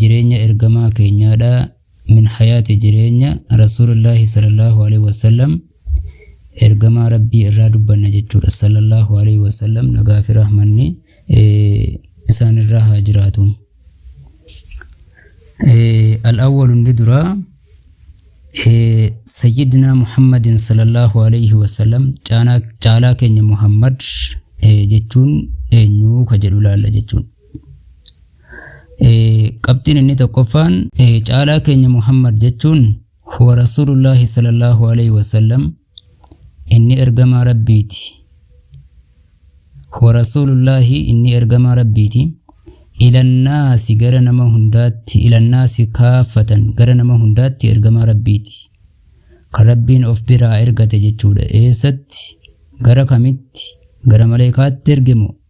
jireenya ergamaa keenyaadha min hayaati jireenya rasuulillaahi sallallahu alaihi wasallam ergamaa rabbii irraa dubbanna jechuudha sallallahu alaihi wasallam nagaa fi rahmanni isaan irraa haa jiraatu al-awwalu inni duraa sayyidina muhammadin sallallahu alaihi wasallam caalaa keenya muhammad jechuun eenyuu ka jedhu laalla jechuun qabxiin inni tokkoffaan caalaa keenya muhammad jechuun huwa rasuulullaahi sallallahu alaihi wasallam inni ergamaa rabbiiti huwa rasuulullaahi inni ergamaa rabbiiti ilannaasi gara nama hundaatti ilannaasi kaafatan gara nama hundaatti ergamaa rabbiiti kan rabbiin of biraa ergate jechuudha eessatti gara kamitti gara maleekaatti ergemo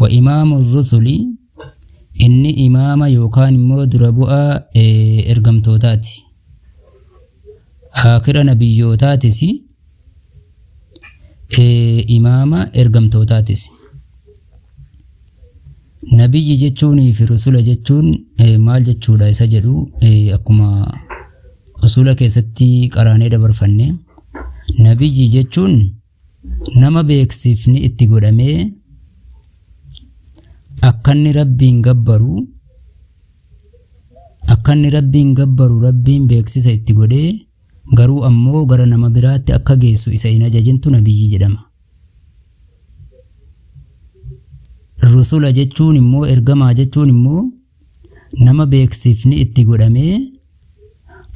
Wa imaamu rusuli inni imaama yookaan immoo dura bu'a ergamtootaati. Aakhira nabiyyootaatis imaama ergamtootaatis. Nabiyyi jechuunii fi rusula jechuun maal jechuudha isa jedhu akkuma usula keessatti qaraanee dabarfanne. Nabiyyi jechuun nama beeksifni itti godhamee akkanni rabbiin gabbaru akkanni rabbiin gabbaru rabbiin beeksisa itti godhee garuu ammoo gara nama biraatti akka geessu isa hin ajajintu nabiyyii jedhama. Rusula jechuun immoo ergamaa jechuun immoo nama beeksifni itti godhamee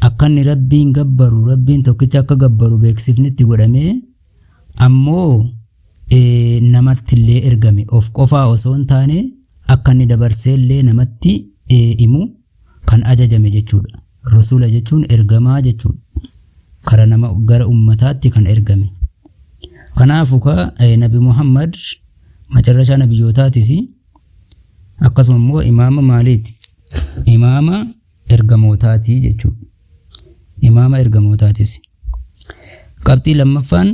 akka inni rabbiin gabbaru rabbiin tokkicha akka gabbaru beeksifni itti godhamee ammoo eh, namatti illee ergame of qofaa osoo hin taane akka inni dabarsee illee namatti eh, himu kan ajajame jechuudha rasuula jechuun ergamaa jechuudha kara nama gara ummataatti kan ergame kanaafu ka eh, nabi muhammad macarrashaa nabiyyootaatisi akkasuma immoo imaama maaliiti imaama ergamootaati jechuudha imaama ergamootaatis qabxii lammaffaan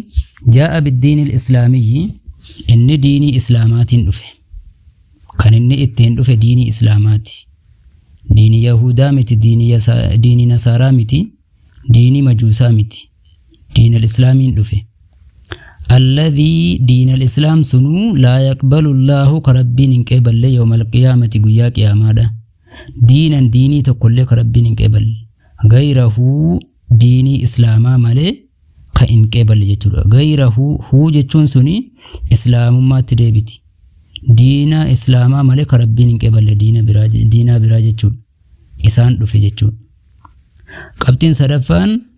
jaa'a biddiinil islaamiyyi inni diinii islaamaatiin dhufe kan inni ittiin dhufe diinii islaamaati diinii yahuudaa miti diinii yasa- diinii nasaaraa miti diinii majuusaa miti diinal islaamiin dhufe alladhii diinal islaam sunuu laa yaqbalu llaahu ka rabbiin hin qeeballe yoomal qiyaamati guyyaa qiyaamaadha diinan diinii tokkollee ka rabbiin hin qeeballe gayrahuu diinii islaamaa malee ka hin qeeballe jechuudha gayrahuu huu jechuun suni islaamummaatti deebiti diina islaamaa malee ka rabbiin hin qeeballe diina biraa diinaa biraa jechuudha isaan dhufe jechuudha qabxiin sadaffaan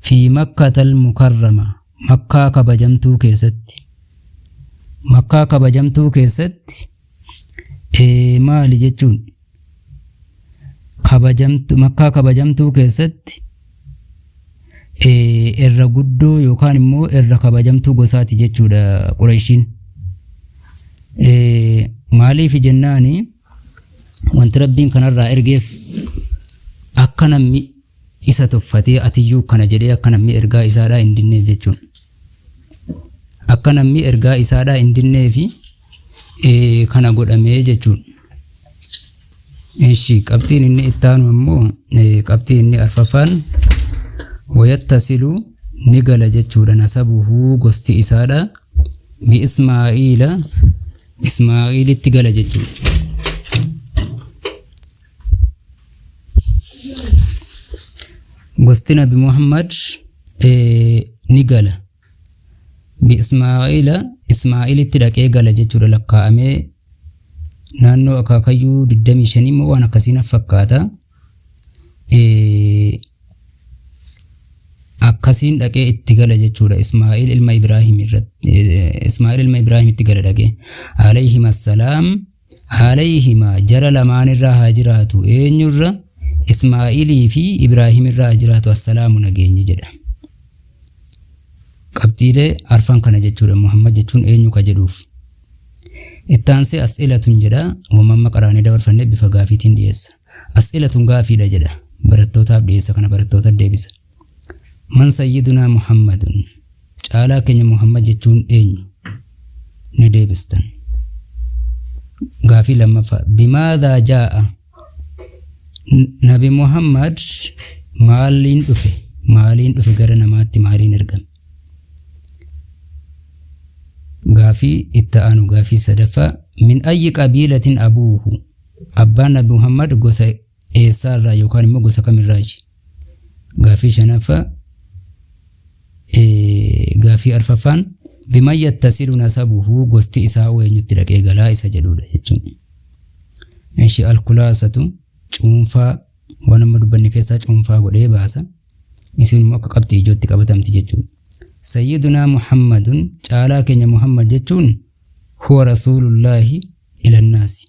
fi Makkatal Mukarrama, Makkaa Kabajamtuu keessatti. Makkaa Kabajamtuu keessatti maali jechuun? Kabajamtu, Makkaa Kabajamtuu keessatti irra guddoo yookaan immoo irra kabajamtuu gosaati jechuudha Qureeshiin. Maaliif jennaani wanti Rabbiin kanarraa ergeef akka namni Isa tuffatee atiyyuu kana jedhee akka namni ergaa isaadhaa hin dinneef jechuun akka namni ergaa isaadhaa hin dinneefi ee, kana godhamee jechuun. Eshi qabxiin inni ittaanu ammoo ee, qabxii inni arfaffaan wayattasilu ni gala jechuudha nasabuhu gosti isaadha bi ismaa'iila ismaa'iilitti gala jechuudha. gosti nabi muhammad ni gala biismaa'iila ismaa'iilitti dhaqee gala jechuudha lakkaa'amee naannoo akaakayyuu 25 immoo waan akkasiin fakkaata akkasiin dhaqee itti gala jechuudha ismaa'iil ilma ibraahim irratti ismaa'iil ilma ibraahim itti gala dhaqee alayhim assalaam Alayhimaa, jara lamaan irra haa jiraatu, eenyu irra? Ismaa'ilii fi Ibraahim irra haa jiraatu, assalaamu nageenyi jedha. Qabxiilee arfan kana jechuudha Muhammad jechuun eenyu ka jedhuuf. Itti aansee as'ilatun jedha, wama amma qaraanee dabarfanne bifa gaafiitiin dhiyeessa. As'ilatun gaafiidha jedha, barattootaaf dhiyeessa kana barattoota deebisa. Man sayyidunaa Muhammadun caalaa keenya Muhammad jechuun eenyu? Ni deebistan. Gaafii lammaffaa bimaadhaa jaa'a nabi Muhammad maaliin dhufe maaliin dhufe gara namaatti maaliin ergame? Gaafii itti aanu gaafii sadaffaa min ayyi qabiilatin abuuhu abbaan nabi Muhammad gosa eessaarraa yookaan immoo gosa kamirraayi? Gaaffii shanaffaa gaaffii arfaffaan biman yattasilu nasabuhu gosti isaa oo eenyutti dhaqee galaa isa jedhudha jechuun. Ishi alkulaasatu cuunfaa waan amma dubbanne keessaa cuunfaa godhee baasa. Isin immoo akka qabxii ijootti qabatamti jechuudha. Sayyidunaa Muhammadun caalaa keenya Muhammad jechuun huwa rasuulullaahi ilannaasi.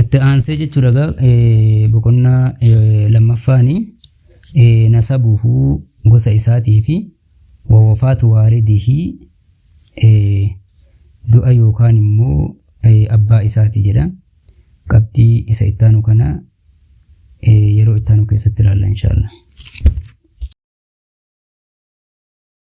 itti aansee jechuudha egaa eh, boqonnaa eh, lammaffaani eh, nasabuhu gosa isaatii fi wawafaatu waalidihi eh, du'a yookaan immoo eh, abbaa isaati jedha qabxii isa ittaanu kana eh, yeroo ittaanu keessatti ilaalla inshaallah